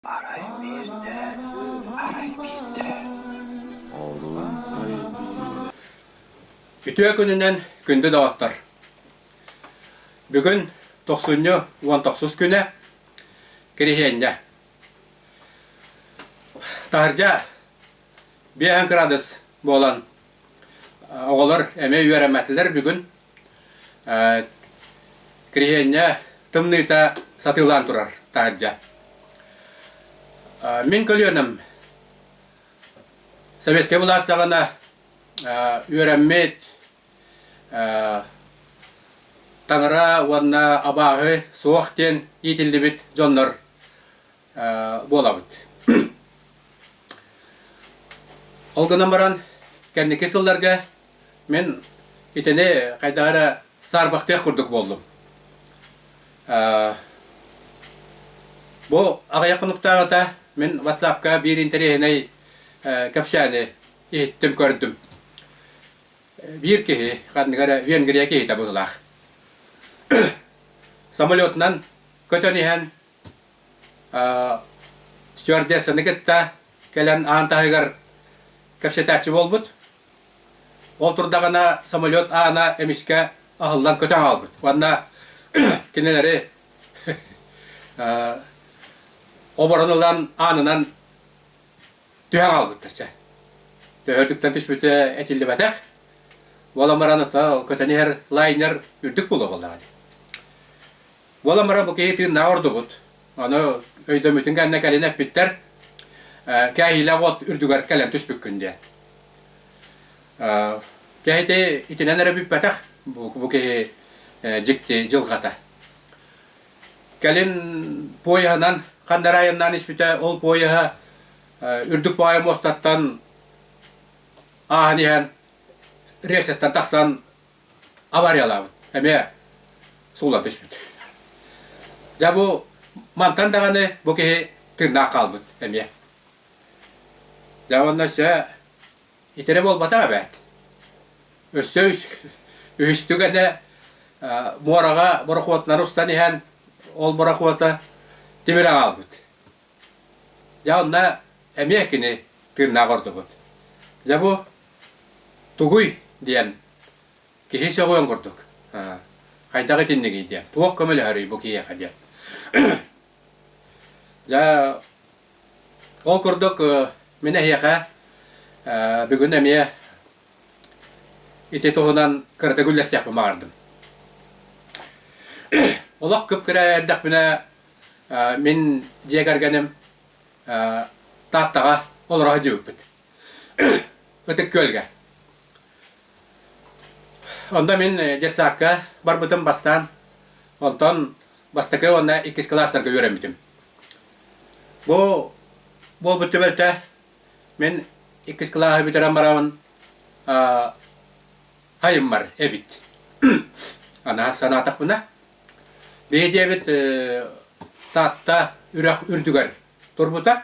Арай биирдэ, арай биирдэ олун өйдүүр Үтүө күнүнэн күндү доҕоттор! Бүгүн тохсунньу уон тохсус күнэ, Кириһиэнньэ. Таһырдьа биэһин кыраадыс буолан, оҕолор эмиэ үөрэммэтилэр бүгүн. Кириһиэнньэ тымныыта сатыылаан турар таһырдьа. Мин көлүөнэм Сэбиэскэй былаас саҕана үөрэммит таҥара уонна абааһы суох диэн иитиллибит дьоннор буолабыт. Ол гынан баран, кэнники сылларга мин итини хайдах эрэ саарбахтыах курдук буоллум. Бу аҕыйах хонуктааҕыта мин WhatsApp-ка биир интэриэһинэй кэпсээни иһиттим, көрдүм. Биир киһи, ханнык эрэ Венгрия киһитэ быһыылаах. Самолетунан көтөн иһэн стюардессаны кытта кэлэн аан таһыгар кэпсэтээччи буолбут. Ол турдаҕына самолет аана эмискэ аһыллан көтөн хаалбыт. Уонна кинилэри оборон ылан аанынан түһэн хаалбыттар чэ. Төһөрдүктэн түспүтэ этиллибэтэх. Ол амаран ата көтөн иһэр лайнер үрдүк буолуо буоллаҕа Буола-мара бу киһи тыыннааҕа ордубут. Аны өйдөммүтүн кэннэ кэлин эппиттэр, «Кээһиилээх уот үрдүгэр кэлэн түспүккүн» диэн. Кээһити итинэн эрэ бүппэтэх бу киһи дьикти дьылҕата. Кэлин поеһынан ханна эрэ айаннаан испитэ, ол поеһа үрдүк паайа муостаттан ааһан иһэн рельсэттэн тахсан авариялаабыт эмиэ суулан түспүт дьэ бу мантан даҕаны бу киһи тыыннаах хаалбыт эмиэ дьэ уонна өссө итирэ буолбатах эбээт өссө үһүстүгэнэ муораҕа борохуотунан устан иһэн ол борохуота тимирэ хаалбыт Дьэ онно эмиэ кини тыыннаах ордубут. Дьэ бу тугуй диэн киһи сөҕүөн курдук. «Аа, хайдах итиннигий?» диэн. «Туох көмөлөһөрүй бу киһиэхэ?» диэн. Дьэ ол курдук мин эһиэхэ бүгүн эмиэ ити туһунан кыратык үллэстиэхпин баҕардым. Олох кып-кыра эрдэхпинэ Мин дьиэ кэргэним Тааттаҕа олоро сылдьыбыппыт. Ытык Күөлгэ. Онно мин детсадка барбытым бастаан. Онтон бастакы уонна иккис кылаастарга үөрэммитим. Бу буолбут түбэлтэ мин иккис кылааһы бүтэрэн барабын хайыммар эбит. Анаа санаатахпына Бэйэтээбит Таатта үрэх үрдүгэр турбута.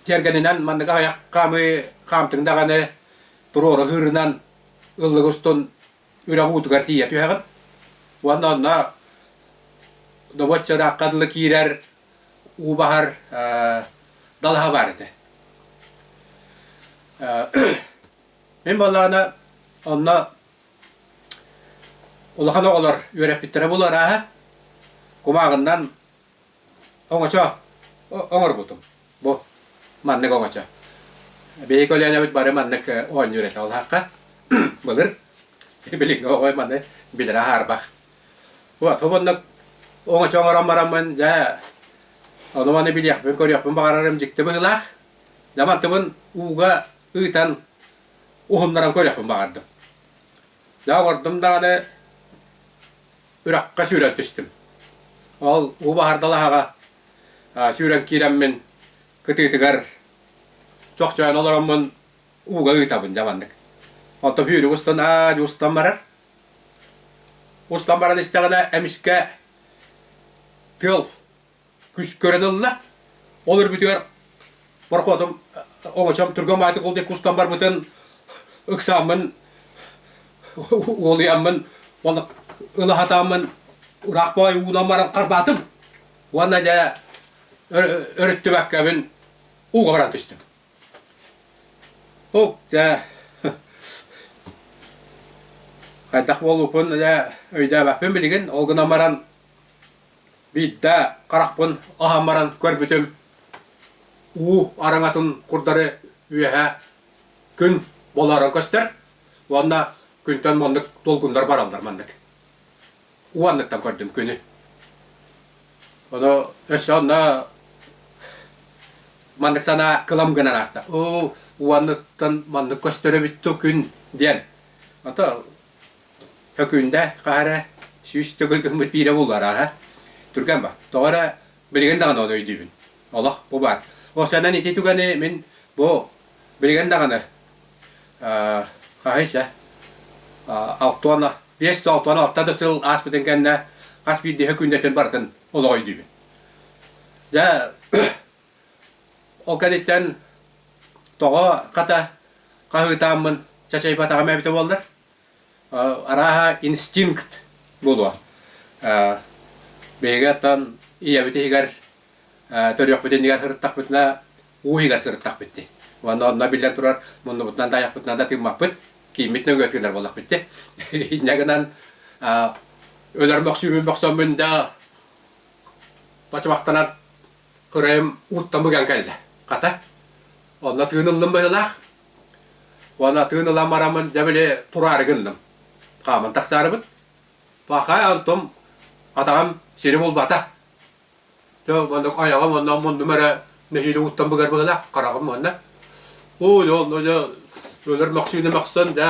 Тиэргэнинэн маннык аҕыйах хаамыы хаамтыҥ даҕаны туруору ыһыырынан ыллык устун үрэх уутугар тиийэ түһэҕин. Уонна онно добуочча ыраахха дылы киирэр уу баһар далаһа баар этэ. Мин буоллаҕына онно Улахан оҕолор үөрэппиттэрэ булу арааһа кумааҕыннан оҥочо оҥорбутум. Бу маннык оҥочо. Биһиги көлүөнэбит бары маннык оонньуурэтэ улаахха былыр билиҥҥи оҕо маны билэрэ аһаарбах. Вот бу маннык оҥочо оҥорон бараммын дьэ ону-маны билиэхпин, көрүөхпүн баҕарарым дьикти быһыылаах. Дьэ мантыбын ууга ыытан уһуннаран көрүөхпүн баҕардым. Дьэ олордум даҕаны үрэххэ сүүрэн түстүм. Ол уу баһардалаһаҕа сүүрэн киирэммин кытыытыгар чохчойон олороммун ууга ыытабын дьэ маннык. Оттон түүнүк устун аа устан барар. Устан баран истэҕинэ эмискэ тыал күс көрөн ылла. Ол өрбүтүгэр пароходум оҕочом тургам ааты кулдай кустан барбытын ыксааммын уолуйаммын уонна ылаһатааммын ыраах баай уунан баран харбаатым уонна дьэ өрүттүбэккэбин ууга баран түстүм. Ол дьэ хайдах буолуупун дьэ өйдөөбөппүн билигин ол гынан баран Биирдэ харахпын аһан баран көрбүтүм уу араҥатын курдары үөһэ күн буоларын көстөр уонна күнтэн маннык долгуннар бараллар маннык. Уу анныттан көрдүм күнү. Ону өссө онно маннык санаа кылам гынан ааста. Оо, уу анныттан маннык көстөр эбит дуу күн диэн. Ата Өкүндэ хаһа эрэ сүүс төгүл гыммыт биирэ буллар ааһа. Түргэн ба. Тоҕо эрэ билигин даҕаны ону өйдүүбүн. Олох бу баар. Ол сэнэн ити түгэни мин бу билигин даҕаны аа хаһыйса алта уон биэс да алта уон алта да сыл ааспытын кэннэ хас биирдии өкүндэтин барытын олох өйдүүбүн. Дьэ ол кэнниттэн тоҕо хата хаһыытааммын чачайбатаҕым эбитэ буоллар Арааһа инстинкт буолуо. Биһиги оттон ийэбит иһигэр төрүөхпүтүн иһигэр сырыттахпытына уу иһигэр сырыттахпыт дии. Уонна онно биллэн турар муннубутунан да айахпытынан да тыыммаппыт, кииммит нөҥүө тыынар буоллахпыт дии. Инньэ гынан өлөр мөхсүүммүн бөхсөммүн да бачымахтанан кыраем уттан быган кэллэ. Хата, онно тыын ыллым быһылаах. Уонна тыын ылан барамын, дьэ били тураары гынным. Хааман тахсаарыбын. Пахай Антом атаҕам сири булбата. Тө маннык айаҕым онно муннум эрэ нэһиилэ уттан быгар быһылаах хараҕым уонна. Оо дьэ онно дьэ өлөр мөхсүүнэ мөхсөн дьэ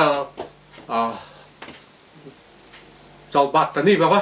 аа чалбааттаныы бөҕө.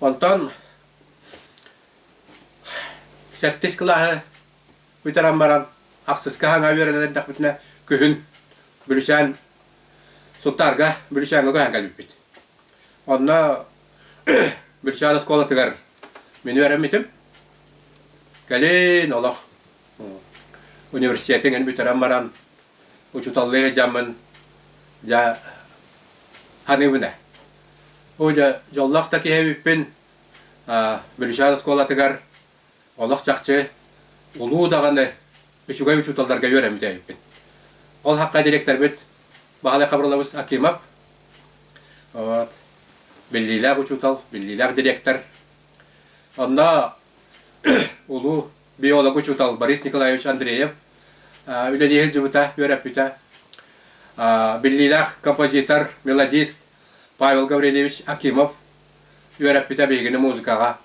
Онтон сэттис кылааһы бүтэрэн баран ахсыска хаҥа үөрэнэн эрдэхпитинэ күһүн Бүлүсээн Сунтаарга Бүлүсээҥҥэ көһөн кэлбиппит. Онно Бүлүсээн оскуолатыгар мин үөрэммитим. Кэлин олох университетин эн бүтэрэн баран учууталлыы сылдьаммын дьэ ханыыбына Оля, дьоллоох да киһи эбиппин. Брюшар оскуолатыгар олох чахчы улуу даҕаны үчүгэй учууталларга үөрэммит эбиппин. Ол хахха дириэктэрбит Баһылай Хабырылабыс Акимов, вот, биллиилээх учуутал, биллиилээх дириэктэр. Онно улуу биолог учуутал Борис Николаевич Андреев үлэлии сылдьыбыта, үөрэппитэ. Биллиилээх композитор, мелодист Павел Гаврильевич Акимов үөрэппитэ биһигини музыкаҕа.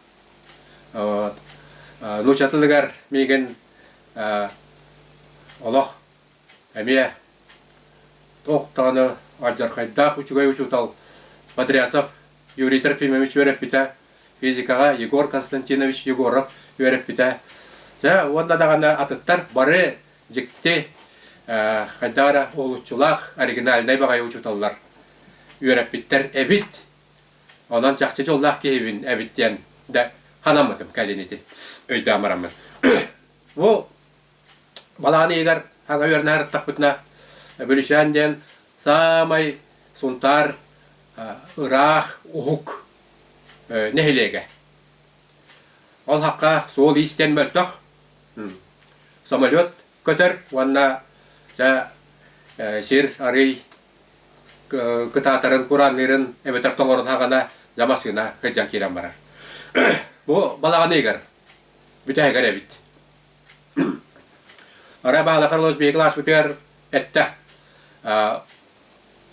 Нуучча тылыгар миигин олох Эмиэ туох даҕаны алдьархайдаах үчүгэй учуутал Бодрясов Юрий Трофимович үөрэппитэ, физикаҕа Егор Константинович Егоров үөрэппитэ. Дьэ, уонна даҕаны атыттар бары дьикти, хайдах эрэ уһулуччулаах, оригинальнай баҕайы учууталлар үөрэппиттэр эбит. Онон чахчы дьоллоох киһибин эбит диэн да санаммытым кэлин ити өйдөөн бараммын. Бу Балаан ыйыгар ага үөрэнэ ырыттахпытына Бөлүсээн диэн саамай Сунтаар ыраах уһук нэһилиэгэ. Ол хахха суол-иис диэн мөлтөх. Самолет көтөр уонна чэ сир арый кытаатарын кураанныырын эбэтэр тоҥорун хаҕына дьэ массыына сылдьан киирэн барар. Бу балаҕан ыйыгар бүтэһигэр эбит. Арай баалаха Лос Вегас ааспытыгар эттэ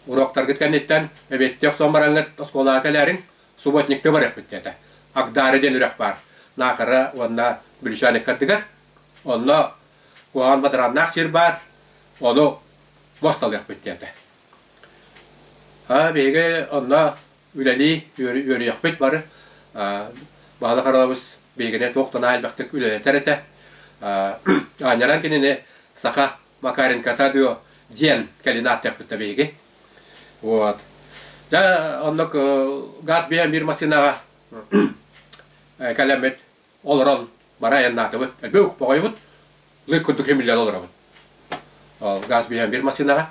уруоктаргыт кэнниттэн эбиэттиэх сон бараҥҥыт оскуолаҕа кэлээриҥ, субботникка барыахпыт диэтэ. Акдаары диэн үрэх баар Наахара уонна Бүлүчээн ыккардыгар. Онно куһаҕан бадарааннаах сир баар, ону мусталыахпыт диэтэ. Биһиги онно үлэлии үөрүйэхпит бары баһылай Харалабыс биһигини туох да наайбахтык үлэлэтэр этэ аанньаран кинини саха Макаренкота дуо диэн кэлин ааттыахпыт биһиги вот дьэ оннук газ биһэн биир массыынаҕа кэлэммит олорон бары айаннаатыбыт өлбөк поҕойбут лык курдук химиллэн олоробут ол газ биһэн биир массыынаҕа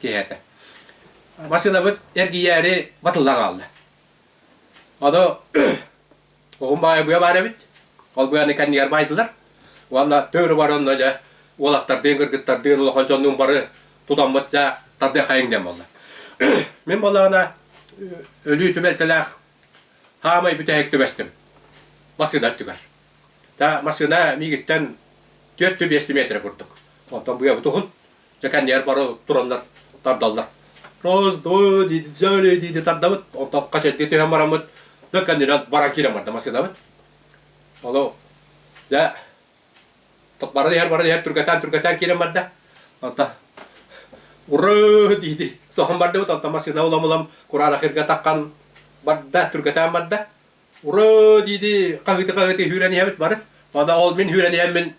киһи этэ. Массыынабыт эргийээри батылла хаалла. Ону уһун баайбыйа баар эбит. Ол быаны кэннигэр баайдылар. Уонна төөрү баранна дьэ уолаттардыын, кыргыттардыын улахан дьоннуун бары тутаммыт дьа тардыахайың диэн буолла. Мин боллаҕына өлүү түбэлтэлээх хаамай бүтэһик түбэстим массыына өттүгэр. Та массыына миигиттэн түөрт-биэс метрэ курдук. Онтон быйабыт уһун, Дьэ кэннигэр бары тураннар тардаллар. Роздво дидзоле диди тардабыт. Онтон хачайга түһэн бараммыт. Дьэ кэннинэн баран киирэн барда машинабыт. Оло. Дьэ бара иһэр бара иһэр түргэтään түргэтään киирэн барда. Онтон уры диди соһон бардыбыт. Онтон машина улам улам кураанахырга таххан барда түргэтään барда. Ураа дии-дии хаһыты-хаһыты сүүрэн иһэбит бары. Манна ол мин сүүрэн иһэммин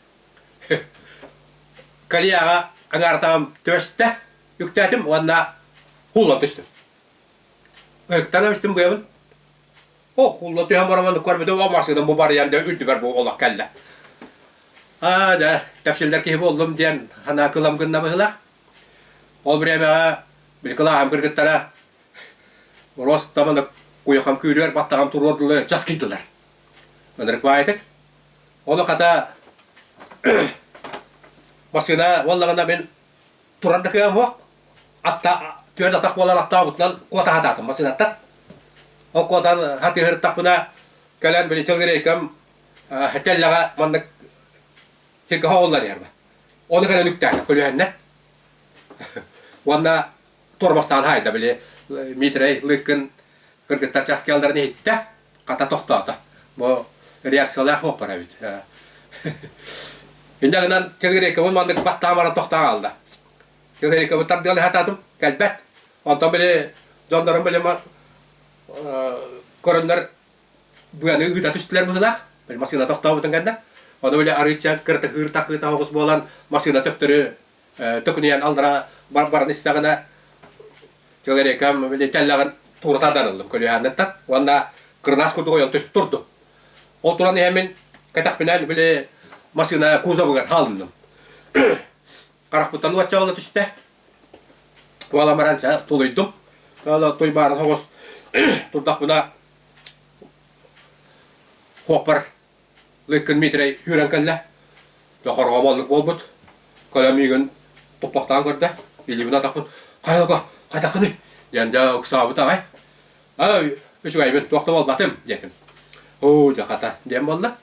калияҕа аҥаартаҕым түөрстэ үктээтим уонна уулла түстүм. Ыйыктана түстүм быйабын. Оо, уулла түһэн баран маннык көрбүтүм, оо, массыынам бу барыйан да үрдүбэр бу олох кэллэ. Аа, дьэ, тэпсиллэр киһи буоллум диэн санаа кылам гынна быһыылаах. Ол бириэмэҕэ били кылааһым кыргыттара Ростоманы куйахам күүрүөр баттаҕам туруор дылы часкыйдылар. Ынырыкбаайтык. Оны хата басына уоллаҕына мин турар да кыам суох. Атта түөрт атах буолан аттаабытынан куота хатаатым масыынаттан. Ол куотан хатыыһыртахпына кэлэн били тылгырейкам тэллэҕэ маннык хилкаһа оллан иһэрбэ. Оны кэлэн үктээтэ көлүһэннэ. Уонна Торбастаан хайда били Митрей Лыкын кыргыттар чаас кэллэрин иһиттэ, хата тохтоото. Бу реакциялаах уоппар эбит. Инде гынан Кирикабын маннык баттаан баран тохтоон алда. Кирикабын тардыал хататым кэлбэт. Онтон били дьоннорум били көрөннөр быаны ыыта түстүлэр быһылаах. Били масыына тохтообутун кэннэ. Оны били арыыча кыртыһыыр такыыта хоҕус буолан масыына төптөрү төкүнүйэн аллара баран истэҕинэ человеком милитэллэҕин туурата дарыллым көлүһээннэттэн уонна кырдаас курдук ойон турдум ол туран иһэ мин кэтэхпинэн били массыына кузовыгар хаалынным харахпыттан уотчаҕыла түстэ уола баран ча тулуйдум туйбаарын хоҕус турдахпына хуоппар Лыккын Митрэй сүүрэн кэллэ. Дохорҕо боллук буолбут. Көлөм үүгүн туппахтаан көрдө. Илиибин атахпын «Хайылга, хатахыны?» диэн дьэ ыксаабыт аҕай. «Ай, үчүгэйбин, туох да буолбатым» диэтим. «Оо, дьэ хата» диэн буолла.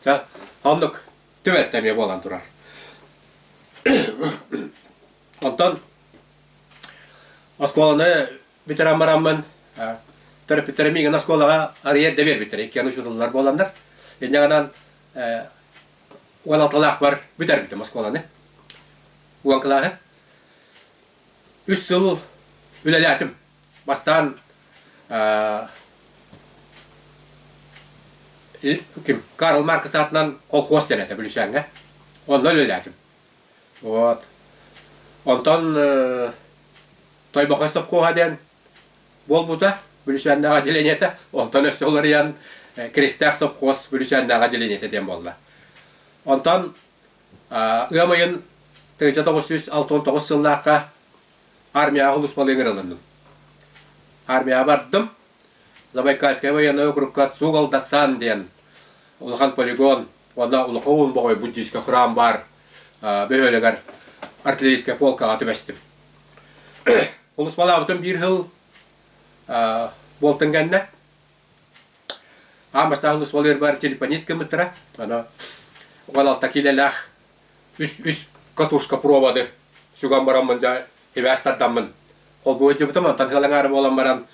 Чэ, оннук түбэлтэ эмиэ буолан турар. Онтон оскуоланы бүтэрэн бараммын төрөппүттэрим игин оскуолаҕа арыйар да биэрбиттэр икки аны учутуллар буоланнар инньэҕинэн уон алталаахпар бүтэрбитим оскуоланы уон кылааһы үс сыл үлэлээтим бастаан ким Карл Маркс аатынан колхоз дэнэтэ Бүлүсээҥҥэ онно үлэлээтим вот онтон Тойбохой сопхуоһа диэн буолбута Бүлүчээннээҕи отделениета, онтон өссө уларыйан э, Киристээх сопхуос Бүлүчээннээҕи отделениета диэн буолла. Онтон ыам ыйын 1969 сыллаахха армияҕа улууспалыы ыҥырылынным. Армияҕа бардым. Забайкальскай военнай округка Цугал Дацан диэн улахан полигон уонна улахан бохой буддийскай храм баар бөһүөлэгэр артиллерийскай полкаҕа түбэстим. Олус балаабытым биир хыл буолтан кэннэ аан бастаан олус болербар телефонист гыммыттара ана угалалта килелях үс үс катушка проводы сүгэн бараммын дьа хибээс тардаммын холбуйдыбытым антан хылаҥаары буолан баран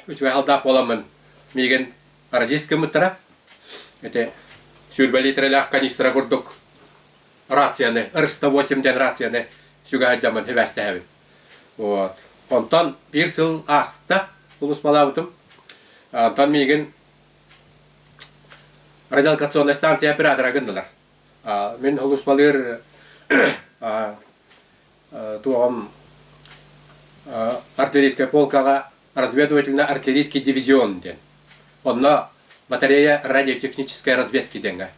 үчүгэй халдаап буоламмын миигин радист гыммыттара эти сүүрбэ литрелээх канистра курдук рацияны, РСТО-8 диэн рацияны сүгэ сылдьаммын сибээстэһэбин. Вот. Онтон биир сыл ааста улууспалаабытым. Онтон миигин радиолокационная станция оператора гыннылар. Мин улууспалыыр туоҕам артиллерийскай полкаҕа разведывательно артиллерийский дивизион диэн. Онно батарея радиотехнической разведки диэҥҥэ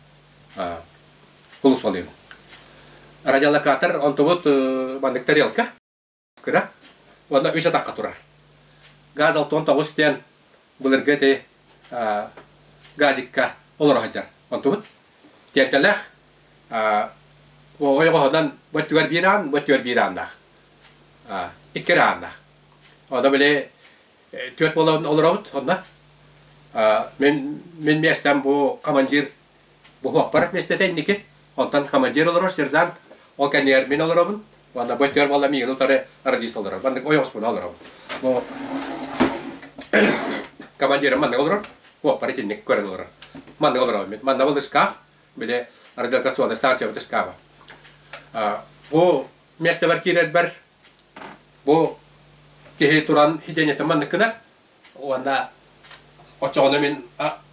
кулусвалыыбын. Радиолокатор онтубут маннык тарелка кыра уонна үс атахха турар. Газ алтон тоҕус диэн былыргы эти газикка олоро сылдьар. Онтубут Тиэртэлэх оҕой оҕоһунан бу өттүгэр биир аан, бу өттүгэр биир ааннаах. Икки ааннаах. Ону били түөрт буолан олоробут онно. Мин мин миэстэм бу командир буһуохпар миэстэтэ инники. Онтон командир олорор сержант, ол кэннигэр мин олоробун. Уонна бытыгар буолла миигин утары родист олорор. Маннык ой хоспуна олорор. Ну командирым маннык олорор. Оппар итинник көрөн олорор. Маннык олорор. Манна был ыскаах, били радиолокационная станция вот ыскааба. Бу местевер кирербер бу киһи туран хиденетин маннык кынар. Уонна очоҕуна мин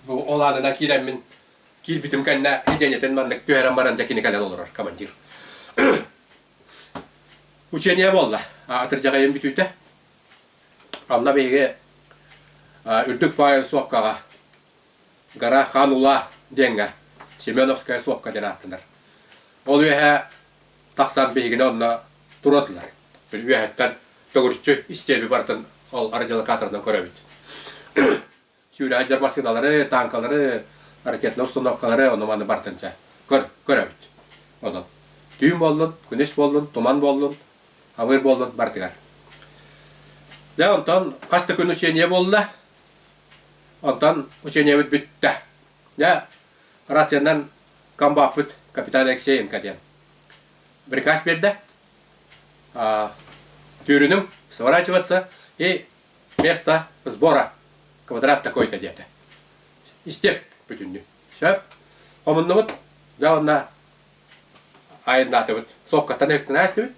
бу олаанынан киирэммин Киирбитим кэннэ дьиэнэтин маннык түһэрэн баран дьэ кини кэлэн олорор командир. Учение буолла. Атырдьаҕайым бүтүүтэ. Анна биһиги үрдүк паайыл суопкаҕа гора Ханула диэҥҥэ Семеновская суопка диэн ааттанар. Ол үөһэ тахсан биһигини онно турадылар. Үөһэттэн төгүрүччү истиэби барытын ол арадилокаторынан көрөбүт. сүүрэһэдьэр массыыналары, таанкалары, ракетнай установкалары ону-маны барытын чэ көр, көрөбүт. Онон түүн буоллун, күнүс буоллун, туман буоллун, авыр буоллун барытыгар. Дьэ онтон хас да күн учение буолла. Онтон учениябыт бүттэ. Дьэ рационнан комбаппыт капитан Алексей НК диэн приказ бердэ. А, түүрүнүҥ сворачиваться и Место сбора квадрат такой-то диэтэ. Истиэп бүтүннү. Сөп. Хомуннубут да уонна айаннаатыбыт. Сопкаттан өктенээстибит.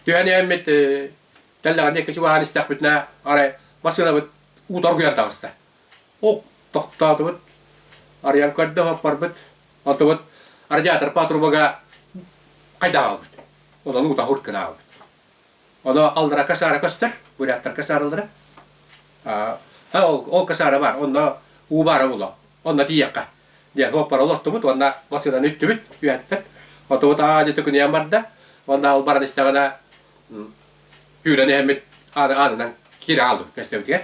Түһэн эммит тэллэҕинде кичугаһан истэхпитинэ арай машинабыт уторгуйан таҕыста. Оп тохтоотубут. Арыйан көрдө хоппарбыт. Онтубут радиатор патрубага хайдаабыт. Онон ута хуртканаабыт. Оно алларакка саара көстөр, буряттарга саарыллара. Ол касаара баар, онно уу баара було. Онно тиийэххэ. Диэн оппара олортубут, уонна массыынаны үттүбүт үһэттэн. Отубут аадьыты күнүйэн барда. Уонна ол баран истэҕинэ түүрэн иһэммит аанынан киирэ хаалбыт кэстэбитигэр.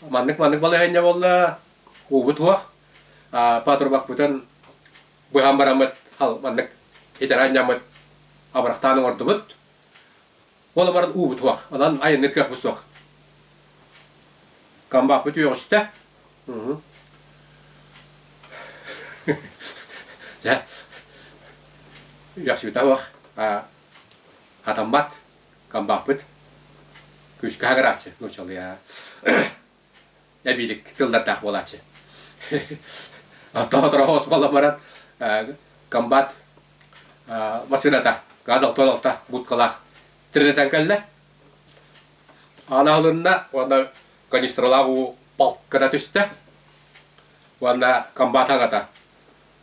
Маннык маннык балаһыанньа буолла уубут уох патрубакпытын быһан бараммыт маннык итэрэ анньаммыт абырахтаан оҥордубут. Ол баран уубут уох. Онон айанныыр кыахпыт суох. Комбаппыт үөҕүстэ. Дьэ, үөхсүбүтэ уох. Хатаммат. Камбахпыт. Күүскэ хагырааччы нуучалыа. Эбиитик тыллардаах буолааччы. Тоһоторо хоос буолан баран комбат массыыната газ алтан алта будкалаах тиринэтэн кэллэ. Аналынна уонна канистралаах уу палката түстэ. Уонна комбат хаҥата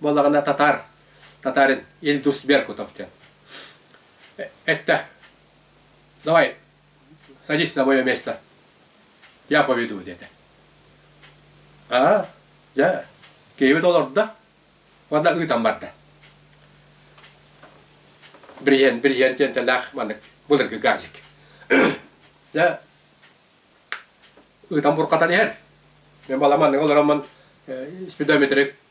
буолаҕына татаар татарын Ильдус Беркутов диэн это давай садись на мое место я поведу диэтэ аа дьэ киһибит олордо уонна ыытан барда бриһен бриһен тиэнтэлээх маннык былыргы газик дьэ ыытан буркатан иһэр мен баламаннык олороммун спидометрик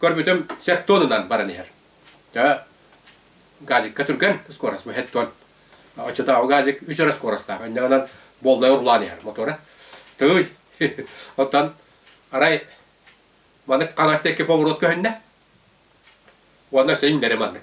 Көрбүтүм сэт тонунан баран иһэр. Дьэ, газикка түргэн скорость бу хэт тон. Оччотооҕу газик үс өрө скоростаах. Иннинэн болдай урулаан иһэр мотора. Тыый. Оттон арай маннык хаҥас диэки поворот көһүннэ. Уонна син бэри маннык.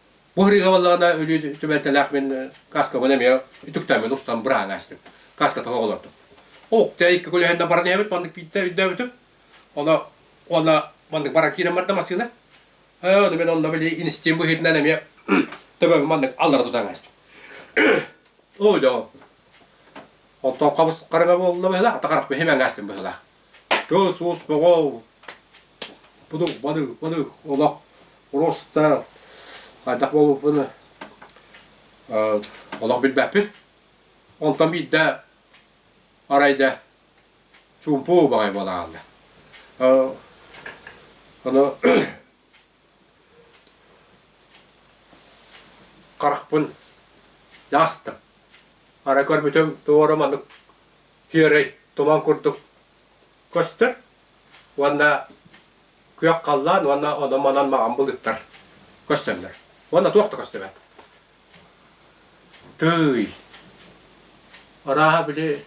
Бу хырыыга буоллаҕына өлүү түбэлтэлээх мин каскабын эмиэ үтүктэммин устан быраан аастым. Каска тоһу олордум. Ук, чэ икки күлүһэннэн баран эбит, маннык биирдэ өйдөөбүтүм. Оно уонна маннык баран киирэн барда массыына. Ээ, ону мин онно били инистиим быһыытынан эмиэ төбөбүн маннык аллара тутан аастым. Ой доо. Онтон хабыс хараҥа буолла быһыылаах, ата харах бэһим аҥаастым быһыылаах. Кыыс-уус боҕол, будук балык, балык олох роста хайдах буолбуппун э олох билбэппин. Онтон биирдэ арай да чуумпу убаҕай буолан хаалла. Э аны харахпын дьаастым. Арай көрбүтүм туора маннык күөрэй туман курдук көстөр уонна күөх халлаан уонна ону манан маҕан былыттар көстөллөр уонна туох да көстүбэт тыый арааһа били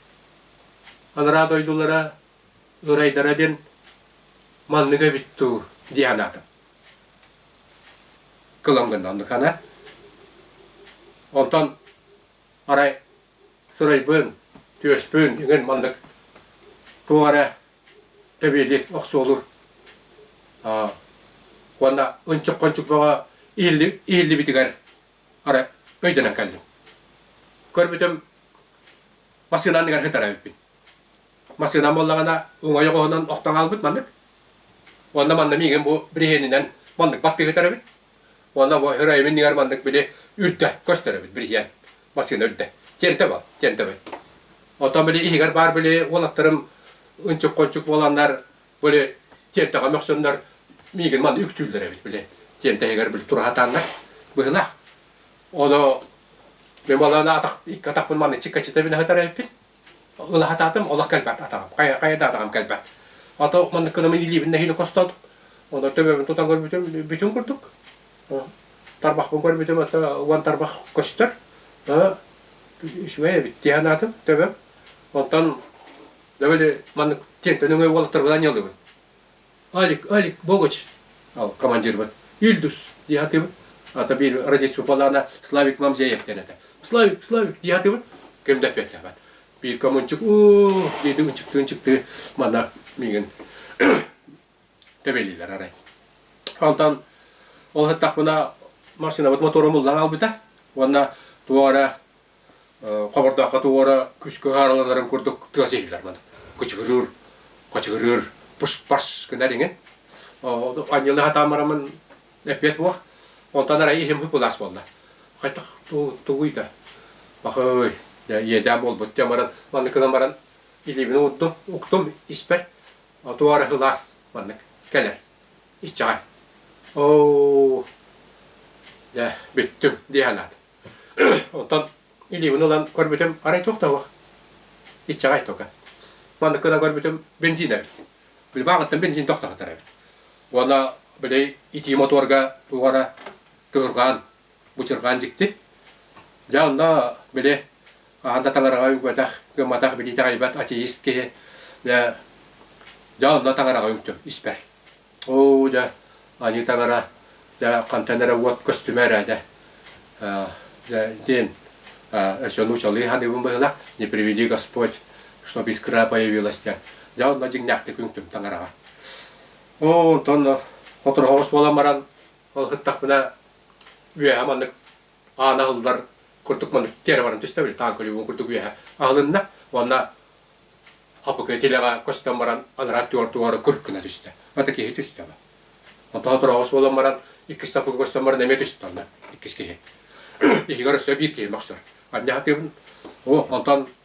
анараа дойдулара ырайдара диэн маннык эбит дуу дии санаатым кылам гынна оннукана онтон арай Сырайбын, түөспүн иҥин маннык туох эрэ тэбиэлик охсуолуур уонна ынчык-хончук бөҕө ииллибитигэр ары өйдөнөн кэллим. Көрбүтүм массыына анныгар сытар эбиппин. Массыынам буоллаҕына уҥуой оҕоһунан охтон хаалбыт маннык. Уонна манна миигин бу бириһиэнинэн маннык баттыы сытар эбит. Уонна бу өр айым иннигэр маннык били үрдэ көстөр эбит бириһиэн. Василий өлдө. Тиэнтэ бар, тиэнтэ бай. Оттон били иһигэр баар били уолаттарым ынчык-кончук буоланнар били тиэнтэҕэ мөхсөннөр миигин манна үктүүллэр эбит били тиэнтэ иһигэр били тураһатааннар быһылаах. Ону мен баланы атах икки атахпын манна чиккачитабин ахытар эппит. Ылахатаатым олох кэлбэт атаҕым. Хайа хайа да атаҕам кэлбэт. Ата маннык кынамы илиибин нэһиилэ костоот. Ону төбөбүн тутан көрбүтүм бүтүн курдук. тарбахпын көрбүтүм уон тарбах көстөр үчүгэй эбит дии санаатым төбөм онтон довольно маннык тиэнтэн өҥөй уолаттарбынан анньалыыбын алик алик богач ол командирбыт ильдус дии атыыбын ата биир родительство балаана славик мамзеев диэн этэ славик славик дии атыыбын ким да эппиэттээбэт биир коммунчук уу диэти ынчыктыы ынчыктыы манна миигин тэбэлиилэр арай. Онтон ол сыттахпына массыынабыт мотуорум ыллан аалбыта уонна туох эрэ хобордооххо туох эрэ күскү хаарыланарын курдук тыас иһиллэр манан кычыгырыыр качыгырыыр пыш-паш гынар иҥин анньыла сатаан барамын эппиэт уох онтон арай иһим hypnose буолла хайдах тугуй да бахый дьэ иэдээн буолбут дьэ баран манныкынан баран илиибин уурдум уктум испэр Отуу арыһылаас маннык кэлэр. Иччэҕэ. Оо, дьэ, бүттүм дии санаат. Оттон илиибин ылан көрбүтүм, арай туох да суох. Иччэҕэй тока. Маннык гына көрбүтүм, бензин эбит. Любаҕыттан бензин тохтотор эбит. Уонна, били, итии мотуорга туох эрэ тыһырҕаан, бычырҕаан дьикти. Дьэ, онно, били, хаһан да талараҕа үгэтэх, гымматах, билиитэ-айбат атеист киһи дьэ дьэ онно таҥараҕа үҥтүм испэр. Оо дьэ аньыы таҥара дьэ хантан эрэ уот көстүмэ эрэ дьэ дьэ диэн өсө нуучалыы ханыыбын быһылах не приведи Господь чтоб искра появилась диэн дьэ онно дьиҥнээхтик үҥтүм таҥараҕа. Оо онтон сотору соҕус буолан баран ол ыһыктахпына үөһэ маннык аан аһыллар курдук маннык тиэрэ баран түстэ били таан көлүгүн курдук үөһэ аһылынна уонна апыкы тилэҕэ көстөн баран анараа туор туора курт гына түстэ ата киһи түстэ ба онтон тураҕас буолан баран иккис саппыкы көстөн баран эмиэ түстэ онно иккис киһи иһигэр өссө биир киһи мөхсөр анньа сатыыбын о онтон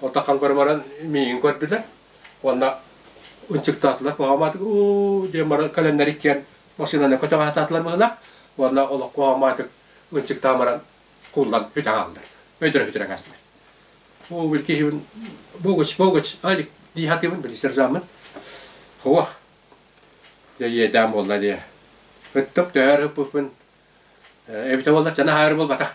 Отахан баран миигин көрдүлэр уонна ынчыктаатылар куһаамаатык уу диэн бары кэлэннэр иккиэн массыынаны көтөҕө сатаатылар быһыылаах уонна олох куһаамаатык ынчыктаан баран кууллан бүтэ хааллылар өйдөрө сүтүрэн астылар уу били киһибин богуч богуч ай дии сатыыбын били сержаммын суох дьэ иэдээн буолла дии ыттым түһээр ыппыппын эбитэ буоллар дьаны аһаары буолбатах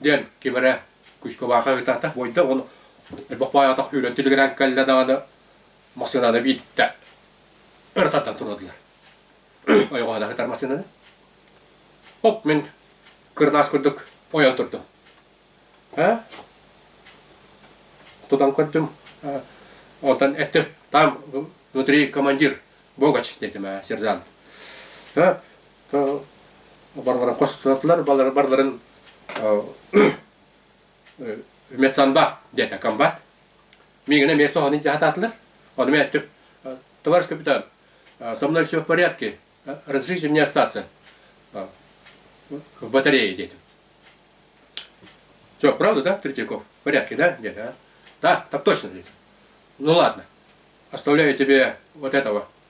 диэн кимэрэ Кучковаха ытатах буойда уонна бохпоотох үүрэн тилигирэн кэллэ даҕаны массыынаны биитте ырытаттан турдулар. Ойоҕоһуна ытар массыынаны. Оп мин кырнаас курдук ойон турдум. Һэ? Тутан көрдүм. Онтон этти там внутри командир Богач дедим, сержант. Һэ? барыларын хостотулар, барыларын медсанба диэтэ комбат. Мигана мне соһаны жаататлар. Он меня товарищ капитан, со мной все в порядке, разрешите мне остаться в батарее дети. Все, правда, да, Третьяков? В порядке, да? Нет, а? Да, так точно, дети. Ну ладно, оставляю тебе вот этого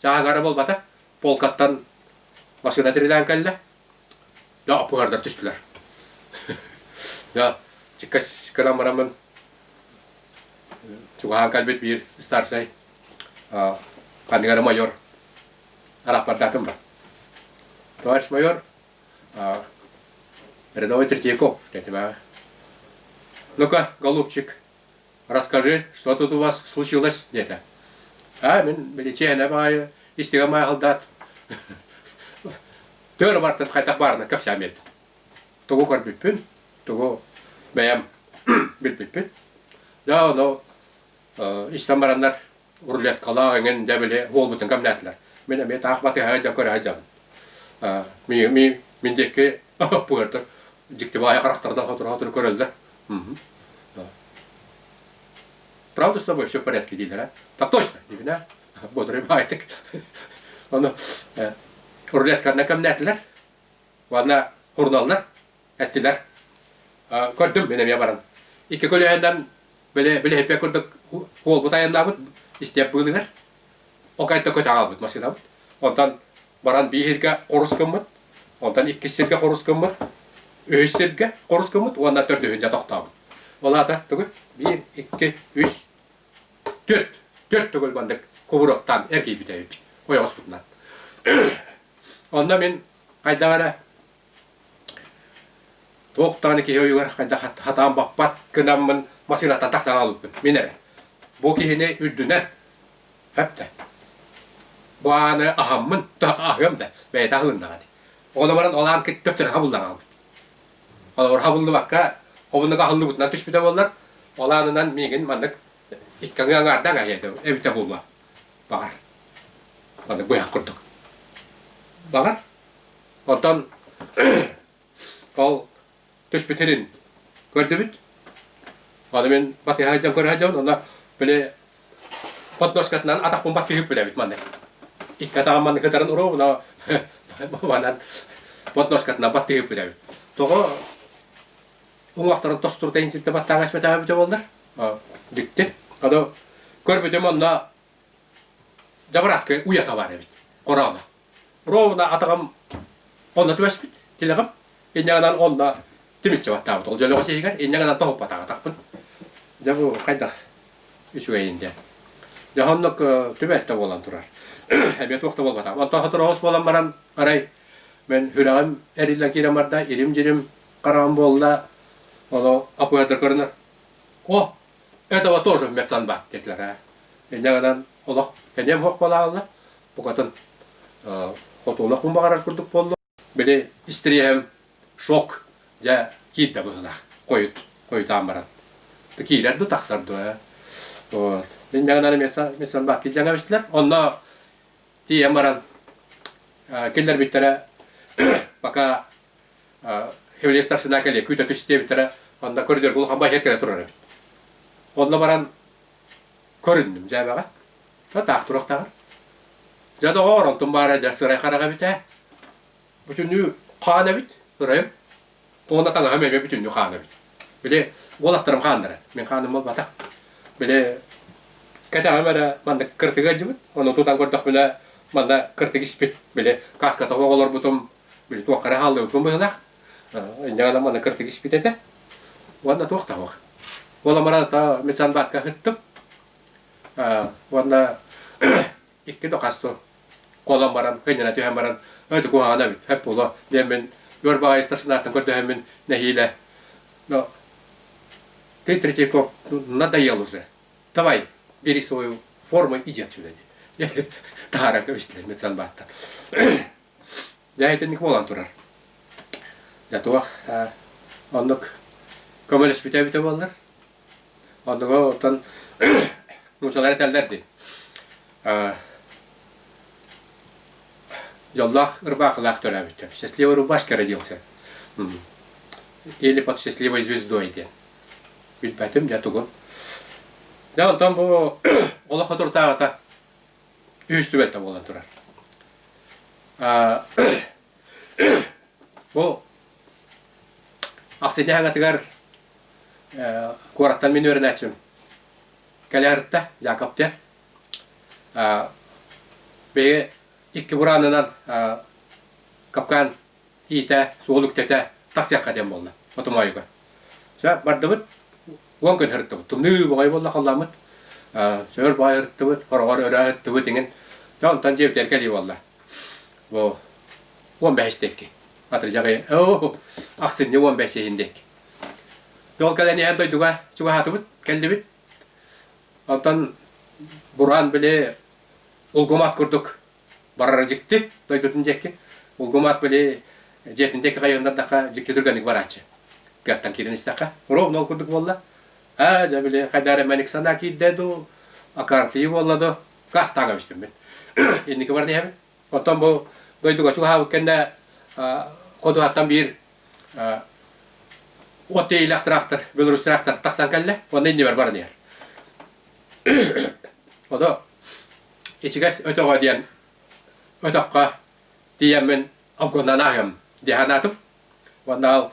Чааһыгара буолбата, полкаттан массыына тирилээн кэллэ. Дьэ, оппуһардар түстүлэр. Дьэ, чиккэс гынан бараммын, чугаһаан кэлбит биир старшай, ханныгары майор арахпардаатым ба. Товарищ майор, рядовой Третьяков, диэтим ээ. Ну-ка, голубчик, расскажи, что тут у вас случилось где-то. А, мин биличээнэ баайы истигэ маахылдаат төр бартын хайтах баарынан кэпсээн берди. Тугу көрбүппүн, тугу бэйэм билбиппин. Да, оно истэн бараннар рулеткалаах эҥин дьэ били уолбутун кэмнээтилэр мин эмиэ таах батыһаһа дьон көрөһө дьон ми ми мин диэки пыыртыр дьиктибаайа харахтарынан хотуруһа көрөллөр правда с тобой все в порядке диилэрэ так точно дивина бодрый байтик ону рулетканы кэмнээтилэр уонна хурналлар эттилэр. Көрдүм, мен эмиэ баран. Икки көлөһүнэн билэһиппэ курдук уолбут айаннаабыт истиэп быылыгар. Ока этте көтө аҕалбыт массыынабыт. Онтон баран бии сиргэ хорус гыммыт. Онтон иккис сиргэ хорус гыммыт. Үһүс сиргэ хорус гыммыт уонна төрдүһүнчэ тохтообут. Ол аата түгүл бир, икки, үс, төрт, төрт төгүл бандык кубуруктаан эргийбит эбит ойоҕоспутунан. Онно мин хайдаҕа эрэ Туох даҕаны киһи ойугар хайдах хатаан баппат гынаммын масыынаттан тахсан аҕалбыппын. Мин эрэ. Бу киһини үрдүнэ пэптэ. Бу ааны аһаммын туһах аһыам да бэйэтэ аһылыннаҕа дии. Ол баран ол аан кыттыктыра хабыллан аҕалбыт. Холобур хабыллыбакка обуннук аһыллыбытынан түспүтэ буоллар, ол аанынан миигин маннык иккаҥы аҥаарда аҥаһыйа эбитэ буолуо. Баҕар. Маннык быһах курдук. Баҕар. Онтон ол түспүтүн көрдүбүт. Аны мин батыһа дьон көрө дьон, онно били подноскатынан атахпын бат түһүп билэбит манны. Икки атаҕым манны кытаран уруу, но манан подноскатынан бат түһүп билэбит. Тоҕо уҥуохтарын тостуртайын силтэ баттаан эспэтээбит боллар. Битти. Аны көрбүтүм онно жабраскай уята бар эбит. Корона. Ровно атаҕым онно түбэспит тилэҕим инньаҕынан онно тимиччи баттаабыт ол дьөлөҕө сиһигэр инньаҕынан тоһуппатаах атахпын дьэ бу хайдах үчүгэйин диэн дьэ оннук түбэлтэ буолан турар эбиэ туох да буолбатах онтон соторуос буолан баран арай мен сүрэҕим эриллэн киирэн барда ирим дьирим хараҕым буолла ону апыһатар көрөнөр о этого тоже медсанбат диэтилэр ээ инньаҕынан олох эниэм суох буолаалла букатын хотуолах мун баҕарар курдук буолла били истириэһим шок дьэ киирдэ быһылаах хойут хойутаан баран киирэр ду тахсар ду вот диннэгинали мессан баакки дьаҥа бистилер онно тиийэн баран киллэрбиттэрэ пока хевле старшина кэле күүтө түстиэбиттэрэ онно көрдөр булухан бай кэле турар эбит онно баран көрүндүм дьээбэҕэ Сатаах туруохтаҕар. Дьэ доҕоор, онтум баара дьэ сырай хараҕа эбит ээ. Бүтүннүү хаан эбит, ырайым. Уонна таҥаһым эмиэ бүтүннүү хаан эбит. Били уолаттарым хааннара. Мин хааным буолбатах. Били кэтэҕим эрэ манна кыртыга ыалдьыбыт. Ону тутан көрдөхпүнэ манна кыртык испит. Били кааска тоһу олорбутум. Били туохха эрэ хааллыбыппын быһыылаах. Инньэ гынан манна кыртык испит этэ. Уонна туох да суох. Уоламмар ата Митсан баатка ыһыттым. уонна икки да хасту куолан баран кынньана түһэн баран ити куһаҕана эбит эп буолуо диэн мин өр баҕайы старшинаттан көрдөһөммүн нэһиилэ но ты третьяков надоел уже давай бери свою форму иди отсюда ди таһааран кэбистилэр мин санбааттан дьэ итинник буолан турар дьэ туох оннук көмөлөспүтэ эбитэ буоллар Одуга оттон мучалар этэллер дии. Йоллах ырбаахылаах төлөөбүттэр. Счастливый рубашка родился. Или под счастливой звездой диэн. Билбэтим дэ тугун. Дэ онтон бу олох отуртааҕата үһүс түбэлтэ буолан турар. Бу Ахсыйда хагатыгар куораттан мин үөрэнээччим кэлээртэ Дьаакаптыан биһиги икки бураанынан капкаан иитэ, суол үктэтэ тахсыахха диэн буолла мотомоойуга. Сөп бардыбыт уон күн сырыттыбыт. Тымныы бөҕөй буолла халлааммыт. Сөөр баҕай сырыттыбыт, хороҕор өрө ыһыттыбыт иҥин. Дьэ онтон дьиэбитигэр кэлии буолла. Бу уон бэһис диэки. Атырдьаҕы оо ахсынньы уон бэсиэһин диэк. Тол кэлэн эһэр дойдуга чугаһаатыбыт, кэллибит. Онтон бураан били улгумаат курдук барара дьикти дойдутун диэкки. Улгумаат били дьиэтин диэки хайыыннардахха дьикти түргэнник барааччы. Тыаттан киирэн истэххэ, ровно ол курдук буолла. Аа дьэ били хайдары мэник санаа киирдэ дуу, акартыы буолла дуу, кастаана көстүммүт. Инники баран эһэбин. Оттон бу дойдуга чугаһаабыт кэннэ ходуһаттан биир от тиэйилэх тыраахтар, Беларусь тыраахтар тахсан кэллэ, уонна иннибэр баран иһэр. Ону ичигэс өтөҕө диэн өтөххө тиийэммин обгоннан аһыам дии санаатым. Уонна ол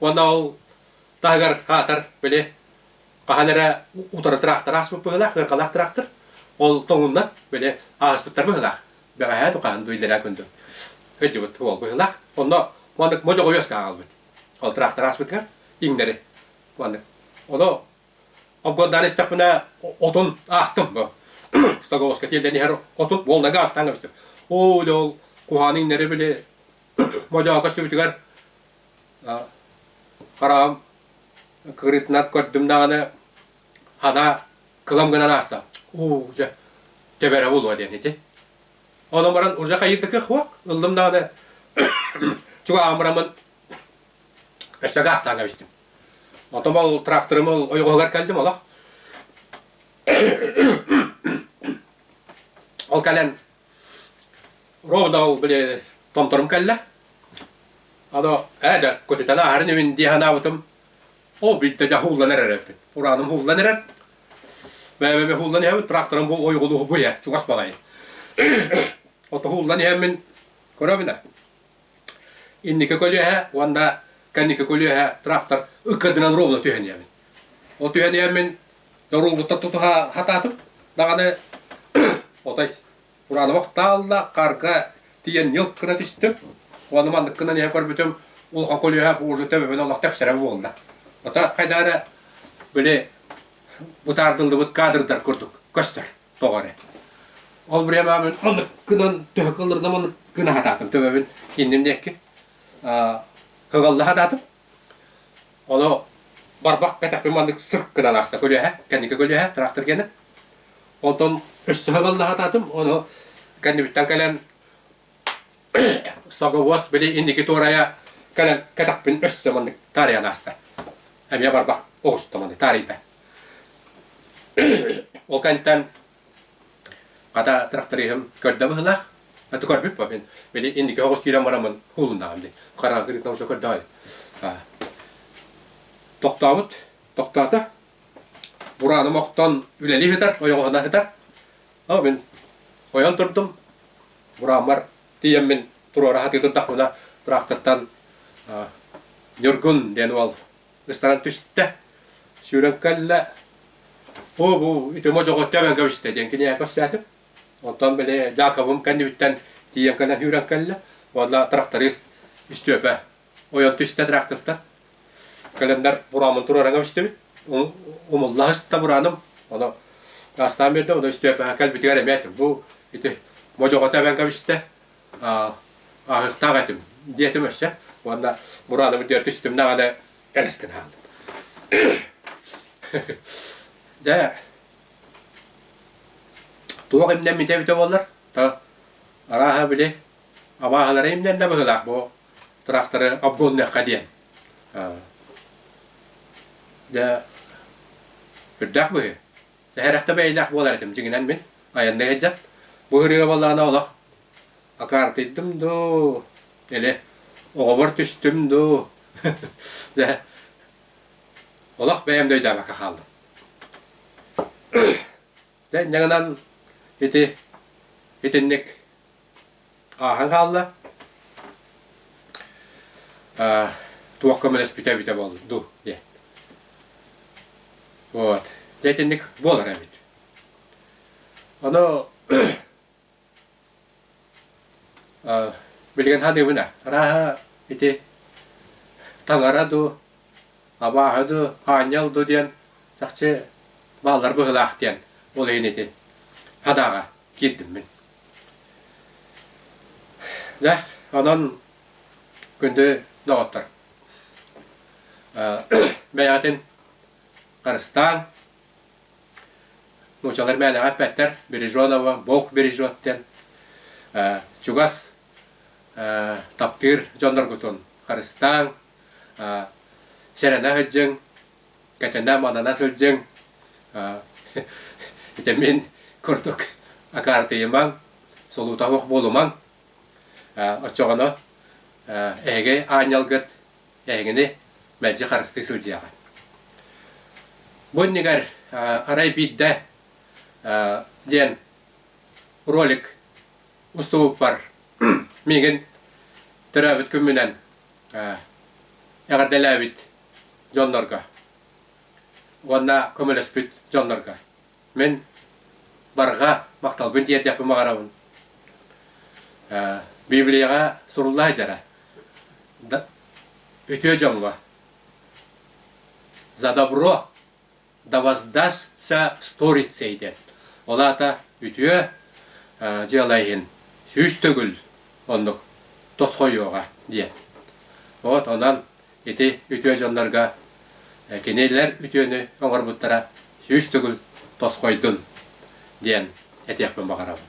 Уонна ол таһыгар аатар били хаһан эрэ утары тыраахтар ааспыт быһыылаах, ыаркалаах тыраахтар ол тоҥуннан били ааспыттар быһыылаах. Бэҕэһээ тухаан дуйлэраа күндү ыдьыбыт уол быһыылаах. Онно маннык модьоҕойуос хаалбыт. Ол тыраахтар ааспытыгар иҥнэри. Маннык. Оно обгордаан истэхпинэ отун аастым бу. Стаговоска тиэлдэн иһэр отут волнага астаан кэбистим. Оо, ол куһааны иҥнэри били модьоҕо көстүбүтүгэр хараҕым кырыытынан көрдүм даҕаны ана кылам гынан ааста уу дьэ тэбэрэ булуо диэн ити ону баран уже хайытыкых уох ыллым даҕаны чугаамырамын өссө гаастаан кэбистим отом ол тракторым ол ойоҕоһугар кэлдим олох ол кэлэн Ровдау, били, Томторум кэллэ. Ado, ээ да, көтүтэн ааһарын имин дии санаабытым. Ол бүйтэ дьа ууллан эрэрпит. Урааным ууллан эрэр. Бэбэбэ ууллан иһэбит, тракторым бу ойголуһу буйа, чугас балай. Ото ууллан иһэммин, көрөбүнэ, Инники көлүөһэ уонна кэнники көлүөһэ трактор ыккардынан ровно түһэн ийэбин. Ол түһэн ийэммин доруолгуттан тутуһа хатаатым даҕаны отой Уранова таалла харга тиийэн ньылк гына түстүм уонна маннык гынан ийэ көрбүтүм улахан көлүөһэ бу уже төбөбүн олох тэпсэрэ буолла. Ото хайда эрэ били бутаардыллыбыт кадрдар курдук көстөр. тоҕо эрэ. Ол бремаабын аныккынан төһө кылырдам аныккына хатаатым төбөбүн инним диэкки кыгалла хатаатым. Ону барбах кэтэхпин маннык сырк гынан ааста көлүөһэ, кэнники көлүөһэ трактор кэнэ. Онтон өссө кыгалла хатаатым, ону кэннибиттэн кэлэн Слоговоз били инники туорайа кэлэн кэтэхпин өссө маннык таарыйан ааста. Эмиэ барбах оҕуста маннык таарыйда. Ол кэнтэн хата тырахтарыыһым көрдө быһылаах. Аты көрбүппү мин. Били инники оҕус киирэн бараммын хуулуннаҕым дии. Хараҥа кырыыттан уже көрдөҕө. Аа. Тохтообут. Тохтоото. Бурааным охтон үлэли ыһытар, ойоҕоһуна ыһытар. Оо мин ойон турдум. Бурааммар тиийэммин туруора сатыытын тахпына тыраахтыттан Ньургун диэн уол ыстаран түстэ. Сүүрэн кэллэ. Оо бу үтүмө дьоҕо төбөн кэбистэ диэн кини кэпсээтим. Онтон били Дьаакыбым кэннибиттэн тиийэн кэлэн сүүрэн кэллэ. Уонна тракторист Үстүөпэ ойон түстэ Трахтовтар. Календарь бураамын турараҥа үстүбүт. Умулла ыста бурааным. Ону астаан берде, ону үстүөпэҕэ кэлбитигэр эмиэ этим. Бу ити модьоҕота эбэн кэбистэ. Аһыктаах этим диэтим өссө. Уонна бурааным үрдүгэр түстүм даҕаны элэскин аһыллым. Дьэ, туох имнэммитэ эбитэ буоллар, арааһа били абааһылары имнэннэ быһыылаах бу тракторы обгоннуохха диэн дьэ үрдээх быһыы тэһэрэхтэ бэйэлээх буолар этим дьиҥинэн мин айанна сылдьан бу ырыа буоллаҕына олох акаартыйдым дуу или оҕобор түстүм дуу дьэ олох бэйэм да өйдөөбөккө хааллым Дьэ, инньэ гынан ити итинник ааһан хаалла. Э, туох көмөлөспүтэ эбитэ буолду дуу диэн. Вот. Дьэ, итинник буолар эбит. Ону Билигин хадыыбына арааһа ити таҥара дуу, абааһы дуу, аанньал дуу диэн чахчы бааллар быһыылаах диэн ол иһин ити хадаҕа киирдим мин. Дьэ, онон күндү доҕоттор, бэйэҕитин харыстааҥ, нуучалар бэйэлэҕэ эппэттэр береженого бог бережет диэн чугас таптыыр дьонноргутун харыстааҥ сэрэнэ сылдьыҥ кэтэнэ манана сылдьыҥ ити мин курдук акаартыйымаҥ солуута суох буолумаҥ оччоҕуна эһиги аанньалгыт эһигини мэлдьи харыстыы сылдьыаҕа. Бу иннигэр арай биирдэ диэн ролик устубуппар миигин төрөөбүт күммүнэн эҕэрдэлээбит дьоннорго уонна көмөлөспүт дьоннорго Мин барҕа махталбын тиэрдэхпин баҕарабын. Библияҕа суруллаа дьара. Үтүө дьоҥҥо за добро да воздастся сторицей диэн. Ол аата үтүө дьыала иһин сүүс төгүл оннук тосхойуоҕа диэн. Вот онон ити үтүө дьоннорго кинилэр үтүөнү оҥорбуттара сүүс төгүл тосхойдун диэн этиэхпин баҕарабын.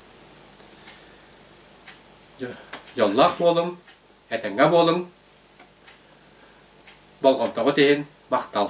Дьоллоох буолуҥ, этэҥҥэ буолуҥ, болҕомтоҕут иһин махтал.